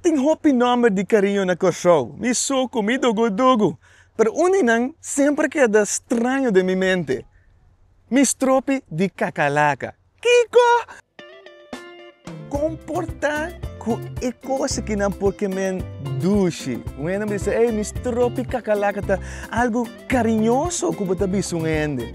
Tin hopi nòmber di kariño na Kòrsou. Mi Soko, mi Dogo Dogo. Pero un di nan semper keda straño den mi mente. Mi stropi di kakalaka. Kiko! Kon por ta ku e kos ki nan por kemen dushi? Un hende a bisa, Ey, mi stropi kakalaka ta algu kariñoso ku bo ta bisa un hende.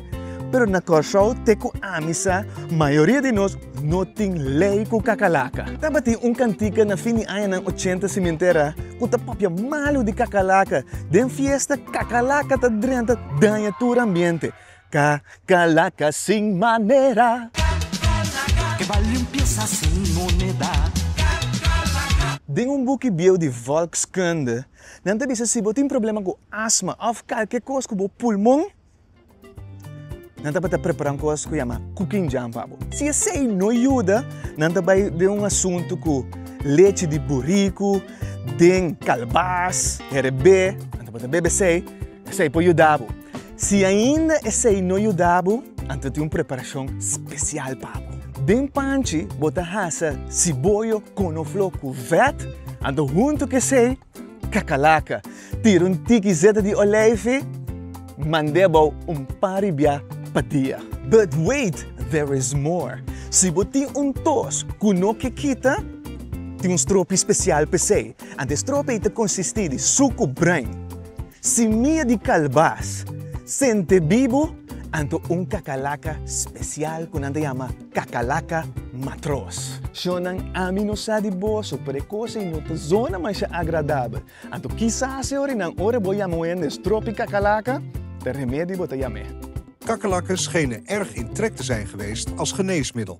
Pero na Kòrsou te ku ami sa mayoria di nos no tin lei ku kakalaka. Tabatin un kantika na fin di añanan ochenta Cimentera ku ta papia malu di kakalaka. Den fiesta kakalaka ta drenta daña tur ambiente. Kakalaka sin manera. Kakalaka. Ke ba limpiesa sin moneda. Kakalaka. Den un buki bieu di Volkskunde. Nan ta bisa si bo tin problema ku asma òf kalke kos ku bo pulmon, nan tabata prepará un kos ku yama kukinjan pa bo. Si esei no yuda, nan ta bai den un asuntu ku lechi di buriku den kalbas, herebé, nan tabata bebe esei. Esei por yuda bo. Si ainda esei no yuda bo, anto tin un preparashon spesial pa bo. Den panchi bo ta hasa siboyo, konofló ku vèt, anto huntu ku esei kakalaka. Tira un tiki zeta di oleifi, mand'é bou un par ribiá pa dia. But wait, there is more! Si bo tin un tos ku no ke kita, tin un stropi spesial pa esei. Anto e strofe ta konsistí di suku brain, simia di kalbas, sente bibu, anto un kakalaka spesial ku nan ta yama kakalaka matros. Shonnan, ami no sa di boso, pero e kos ei no ta zona masha agradabel. Anto kisa se ora i nan ora bo yama un hende strofe kakalaka, ta remedi bo ta yam'é. Kakalaken schenen erg in trek te zijn geweest als geneesmiddel.